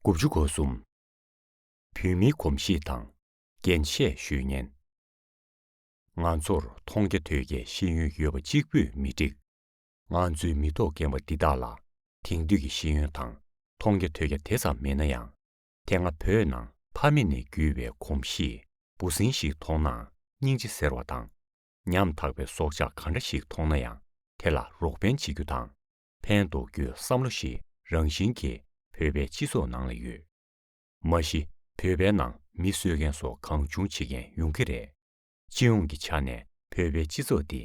དགུ་བཅུ་གོ་གསུམ། བོད་མིའི་གོམས་གཤིས་དང་འགན་བཞེས་ཤུལ་བརྙན། ང་ཚོར་མཐོང་རྒྱ་ཐོས་རྒྱའི་ཤེས་ཡོན་ཡོད་པ་གཅིག་པུས་མི་འགྲིག། ང་ཚོའི་མི་ཐོག་རྒན་པ་འདི་དག་ལ་དེང་དུས་ཀྱི་ཤེས་ཡོན་དང་མཐོང་རྒྱ་ཐོས་རྒྱ་དེ་ཙམ་མེད་ན་ཡང། དེ་སྔ་བོད་ནང་ཕ་མེས་ནས་བརྒྱུད་པའི་གོམས་གཤིས་འབུ་སྲིན་ཞིག་མཐོང་ནའང་སྙིང་རྗེ་ཟེར་བ་དང། ཉམ་ཐག་པའི་སྲོག་ཆགས་གང་འདྲ་ཞིག་མཐོང་ན་ཡང་དེ་ལ་རོགས་ཕན་བྱེད་རྒྱུ་དང། ཕན་འདོགས་རྒྱུའི་བསམ་བློ་ཞིག་རང་བཞིན་གྱིས་བོད་པའི་སྤྱི་ཚོགས་ནང་ལ་ཡོད། མ་གཞི་བོད་པའི་ནང་མི་གསོད་མཁན་སོགས་གང་བྱུང་བྱེད་མཁན་ཡོང་གི་རེད། སྤྱི་ཡོངས་ཀྱི་ཆ་ནས་བོད་པའི་སྤྱི་ཚོགས་འདི་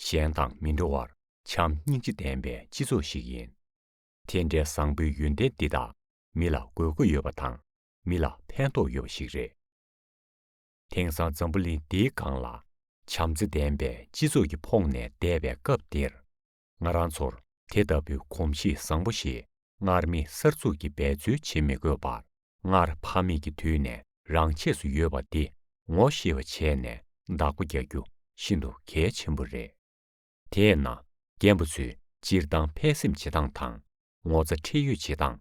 གཞན་དང་མི་འདྲ་བར་བྱམས་སྙིང་རྗེ་ལྡན་པའི་སྤྱི་ཚོགས་ཤིག་ཡིན། དེ་འདྲའི་བཟང་པོའི་ཡོན་ཏན་འདི་དག་མི་ལ་དགོས་མཁོ་ཡོད་པ་དང་མི་ལ་ཕན་ཐོགས་ཡོད་པ་ཞིག་རེད། དེང་སང་འཛམ་བུ་གླིང་འདིའི་སྒང་ལ་བྱམས་བརྩེ་ལྡན་པའི་སྤྱི་ཚོགས་ཀྱི་འཕོངས་ནས་བསྡད་པའི་སྐབས་འདིར། ང་རང་ཚོར་དེ་ལྟ་བུའི་གོམས་གཤིས་བཟང་པོ་ཞིག་སྔར་མེད་གསར་འཛུགས་ཀྱི་འབད་རྩོལ་བྱེད་མི་དགོས་པར་སྔར་ཕ་མེས་ཀྱི་དུས་ནས་རང་ཆས་སུ་ཡོད་པ་འདི་ངོ་ཤེས་པ་བྱས་ནས་བདག་པོ་རྒྱག་རྒྱུ་ཤིན་ཏུ་གལ་ཆེན་པོ་རེད། དེས་ན་རྒན་པ་ཚོས་སྤྱིར་བཏང་ཕན་སེམས་བྱེད་སྟངས་དང་ངོ་ཚ་ཁྲེལ་ཡོད་བྱེད་སྟངས།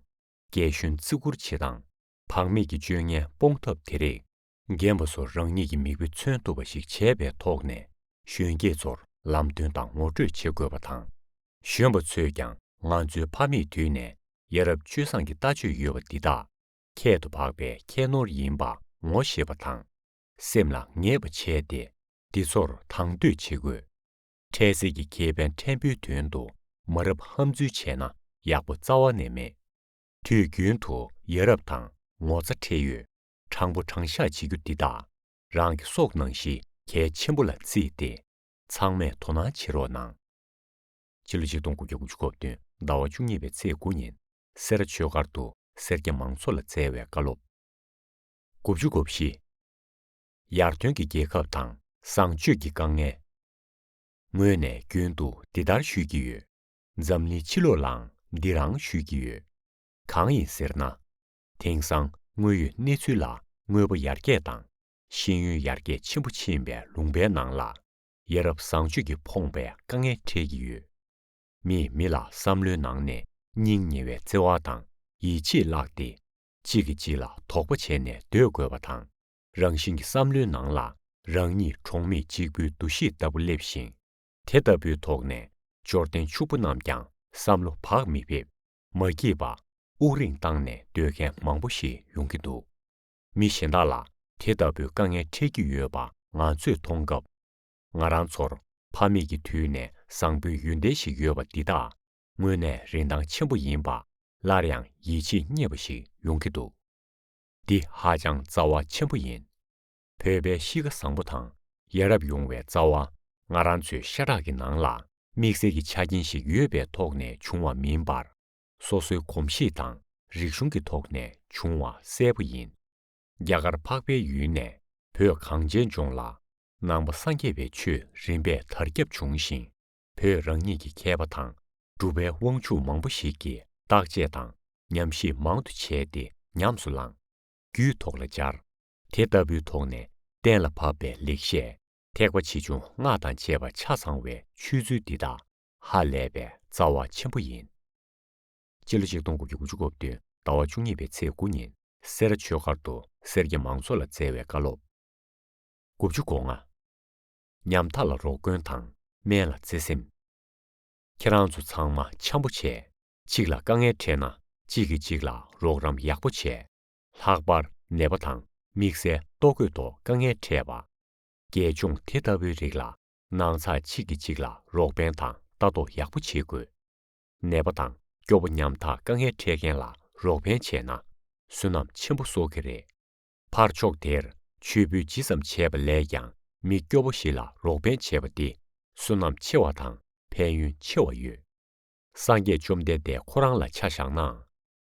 རྒྱལ་གཞོན་བརྩི་བཀུར་བྱེད་སྟངས། བག་མེད་ཀྱི་སྤྱོད་ངན་སྤོང་ཐབས་དེ་རིགས། རྒན་པ་ཚོར་རང་ཉིད་ཀྱི་མིག་དཔེ་མཚོན་ཐུབ་པ་ཞིག་བྱས་པའི་ཐོག་ནས་གཞོན་སྐྱེས་ཚོར་ལམ་སྟོན་དང་ངོ་སྤྲོད་བྱེད་དགོས་པ་དང། གཞོན་པ་ཚོས་ཀྱང་ང་ཚོའི་ཕ་མེས་དུས་ནས་ཡ་རབས་སྤྱོད་བཟང་གི་ལྟ་སྤྱོད་ཡོད་པ་འདི་དག་ཁྱད་དུ་འཕགས་པའི་ཁྱད་ནོར་ཡིན་པ་ངོ་ཤེས་པ་དང། སེམས་ལ་ངེས་པ་བྱས་ཏེ་འདི་ཚོར་དང་དོད་བྱེད་དགོས། འཕྲལ་སེལ་གྱི་ཁེ་ཕན་ཕྲན་བུའི་དོན་དུ་མ་རབས་ཧམ་འཛུལ་བྱས་ན་ཡག་པོ་རྩ་བ་ནས་མེད། དུས་རྒྱུན་དུ་ཡ་རབས་དང་ངོ་ཚ་ཁྲེལ་ཡོད་དྲང་པོ་དྲང་བཞག་བྱེད་རྒྱུ་འདི་དག་རང་གི་སྲོག་ནང་བཞིན་གལ་ཆེན་པོ་ལ་བརྩིས་ཏེ་ཚང་མས་དོ་སྣང་བྱེད་རོགས་གནང། ཕྱི་ལོ་ཆིག་སྟོང་དགུ་བརྒྱ་དགུ་ཅུ་གོ་བདུན་ཟླ་བ་བཅུ་གཉིས་པའི་ཚེས་དགུ་ཉིན་སེ་ར་ཆོས་སྒར་དུ་སེར་སྐྱ་མང་ཚོགས་ལ་སྩལ་བའི་བཀའ་སློབ། དགུ་བཅུ་དགུ་བཞི། ཡར་ཐོན་གྱི་རྒྱལ་ཁབ་དང་བཟང་སྤྱོད་ཀྱི་དཀའ་ངལ། ངོས་ནས་རྒྱུན་དུ་འདི་ལྟར་ཞུས་ཀྱི་ཡོད། འཛམ་གླིང་ཕྱི་ལོགས་ལའང་འདི་རང་ཞུས་ཀྱི་ཡོད། གང་ཡིན་ཟེར་ན། དེང་སང་དངོས་ཡོད་གནས་ཚུལ་ལ་དངོས་པོ་ཡར་རྒྱས་དང་ཤེས་ཡོན་ཡར་རྒྱས་ཆེན་པོ་ཕྱིན་པའི་ལུང་པའི་ནང་ལ། ཡ་རབས་བཟང་སྤྱོད་ཀྱིས་ཕོངས་པའི་དཀའ་ངལ་འཕྲད་ཀྱི་ཡོད། མིས་མི་ལ་བསམ་བློའི་ནང་ནས་སྙིང་ཉེ་བའི་བརྩེ་བ་དང་ཡིད་ཆེས་བརླགས་ཏེ། གཅིག་གིས་གཅིག་ལ་དོགས་པ་བྱས་ནས་སྡོད་དགོས་པ་དང། རང་བཞིན་གྱི་བསམ་བློའི་ནང་ལ་རང་ཉིད་གྲོང་མི་གཅིག་པུའི་འདུ་ཤེས་ལྟ་བུ་སླེབས་ཤིང། དེ་ལྟ་བུའི་ཐོག་ནས་འབྱོར་ལྡན་ཕྱུག་པོ་རྣམས་ཀྱང་བསམ་བློ་བག་མི་ཕེབས། མ་སྐྱིད་པ། དབུགས་རིང་བཏང་ནས་སྡོད་མཁན་མང་པོ་ཞིག་ཡོང་གི་འདུག་མི་གཞན་དག་ལ་དེ་ལྟ་བུའི་དཀའ་ངལ་འཕྲད་ཀྱི་ཡོད་པ་ང་ཚོས་མཐོང་སྐབས། ང་རང་ཚོར་ཕ་མེས་ཀྱི་དུས་ནས་བཟང་པོའི་ཡོན་ཏན་ཞིག་ཡོད་པ་འདི་དག་དངོས་གནས་རིན་ཐང་ཆེན་པོ་ཡིན་པ་སླར་ཡང་ཡིད་ཆེས་རྙེད་པ་ཞིག་ཡོང་གི་འདུག། འདི་ཧ་ཅང་རྩ་བ་ཆེན་པོ་ཡིན། བོད་པའི་གཤིས་ཀ་བཟང་པོ་དང་ཡ་རབས་ཡོང་བའི་རྩ་བ་ང་རང་ཚོའི་ཤ་ཁྲག་གི་ནང་ལ་དམིགས་བསལ་གྱི་ཆ་རྐྱེན་ཞིག་ཡོད་པའི་ཐོག་ནས་བྱུང་བ་མིན་པར། སོ་སོའི་གོམས་གཤིས་དང་རིག་གཞུང་གི་ཐོག་ནས་བྱུང་བ་གསལ་པོ་ཡིན། རྒྱ་གར་འཕགས་པའི་ཡུལ་ནས་བོད་གངས་ཅན་ལྗོངས་ལ་ནང་པ་སངས་རྒྱས་པའི་ཆོས་རིམ་པས་དར་ཁྱབ་བྱུང་ཞིང། བོད་རང་ཉིད་ཀྱི་མཁས་པ་དང་གྲུབ་པའི་དབང་ཕྱུག་མང་པོ་ཞིག་གིས་བརྟག་དཔྱད་དང་ཉམས་བཞེས་མང་དུ་བྱས་ཏེ་ཉམས་སུ་བླངས། རྒྱུད་ཐོག་ལ་སྦྱར། དེ་ལྟ་བུའི་ཐོག་ནས་གཏན་ལ་ཕབ་པའི་ལེགས་བཤད་ཐེག་པ་ཆེ་ཆུང་སྔགས་དང་བཅས་པ་ཆ་ཚང་བའི་ཆོས་ཚུལ་འདི་དག་ཧ་ལས་པའི་རྩ་བ་ཆེན་པོ་ཡིན། སྤྱི་ལོ་ཆིག་སྟོང་དགུ་བརྒྱ་དགུ་ཅུ་གོ་བདུན་ཟླ་བ་བཅུ་གཉིས་པའི་ཚེས་དགུ་ཉིན་སེ་ར་ཆོས་སྒར་དུ་སེར་སྐྱ་མང་ཚོགས་ལ་སྩལ་བའི་བཀའ་སློབ། དགུ་བཅུ་གོ་ལྔ། ཉམ་ཐག་ལ་རོགས་མགོན་དང་སྨན་ལ་བརྩེ་སེམས། ཁྱེད་རང་ཚོ་ཚང་མ་འཆམ་པོ་བྱས་གཅིག་ལ་དཀའ་ངལ་འཕྲད་ན་གཅིག་གིས་གཅིག་ལ་རོགས་རམ་ཡག་པོ་བྱས། ལྷག་པར་ནད་པ་དང་དམིགས་བསལ་ལྟོ་གོས་ཐོག་དཀའ་ངལ་འཕྲད་པ། རྒྱལ་སྐྱོང་དེ་ལྟ་བུའི་རིགས་ལ་ནང་ཚགས་གཅིག་གིས་གཅིག་ལ་རོགས་ཕན་དང་ལྟ་རྟོག་ཡག་པོ་བྱེད་དགོས། ནད་པ་དང་སྐྱོ་པོ་ཉམ་ཐག་དཀའ་ངལ་འཕྲད་མཁན་ལ་རོགས་ཕན་བྱས་ན་བསོད་ནམས་ཆེན་པོ་གསོག་གི་རེད། ཕར་ཕྱོགས་དེར་མཆོད་འབུལ་ཇི་ཙམ་བྱས་པ་ལས་ཀྱང་མི་སྐྱོ་བོ་ཞིག་ལ་རོགས་ཕན་བྱས་པ་འདི་བསོད་ནམས་ཆེ་བ་དང་ཕན་ཡོན་ཆེ་བ་ཡོད། སངས་རྒྱས་བཅོམ་ལྡན་འདས་ཁོ་རང་ལ་ཆ་བཞག་ནའང་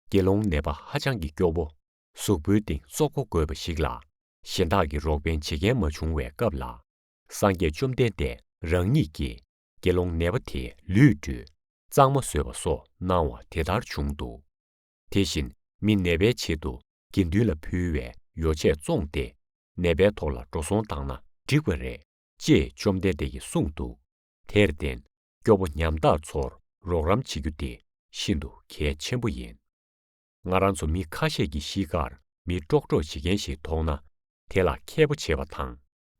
དགེ་སློང་ནད་པ་ཧ་ཅང་གི་སྐྱོ་བོ་གཟུགས་པོའི་སྟེང་བཙོག་པོ་དགོས་པ་ཞིག་ལ་གཞན་དག་གི་རོགས་ཕན་བྱེད་མཁན་མ་བྱུང་བའི་སྐབས་ལ་སངས་རྒྱས་བཅོམ་ལྡན་འདས་རང་ཉིད་ཀྱིས་དགེ་སློང་ནད་པ་དེའི་ལུས་བཀྲུས་གཙང་མ་བཟོས་པ་སོགས་གནང་བ་དེ་ལྟར་བྱུང་འདུག། དེ་བཞིན་མི་ནད་པའི་ཆེད་དུ་དགེ་འདུན་ལ་ཕུལ་བའི་ཡོ་བྱད་བཙོངས་ཏེ་ནད་པའི་ཐོག་ལ་འགྲོ་སོང་བཏང་ན་འགྲིག་པ་རེད་ཅེས་བཅོམ་ལྡན་འདས་ཀྱིས་གསུངས་འདུག་དེར་བརྟེན་སྐྱོ་པོ་ཉམ་ཐག་ཚོར་རོགས་རམ་བྱེད་རྒྱུ་དེ་ཤིན་ཏུ་གལ་ཆེན་པོ་ཡིན། ང་རང་ཚོ་མི་ཁ་ཤས་ཀྱིས་གཤིས་ཀར་མི་ཀྲོག་ཀྲོག་བྱེད་མཁན་ཞིག་མཐོང་ན་དེ་ལ་མཁས་པོ་བྱེད་པ་དང་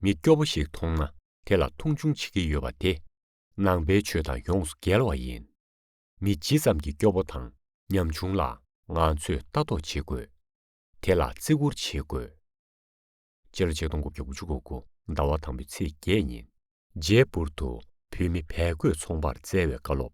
མི་སྐྱོ་པོ་ཞིག་མཐོང་ན་དེ་ལ་མཐོང་ཆུང་བྱེད་ཀྱི་ཡོད་པ་དེ་ནང་པའི་ཆོས་དང་ཡོངས་སུ་འགལ་བ་ཡིན། མི་ཇི་ཙམ་གྱིས་སྐྱོ་བོ་དང་ཉམ་ཆུང་ལ་ང་ཚོས་ལྟ་རྟོག་བྱེད་དགོས། དེ་ལ་བརྩི་བཀུར་བྱེད་དགོས། སྤྱིར་ཆིག་སྟོང་དགུ་བརྒྱ་དགུ་ཅུ་གོ་དགུ་ཟླ་བ་དང་པོའི་ཚེས་བརྒྱད་ཉིན། རྗེས་པུར་དུ་བོད་མི་བལ་གོས་ཚོང་པར་བསྩལ་བའི་བཀའ་སློབ།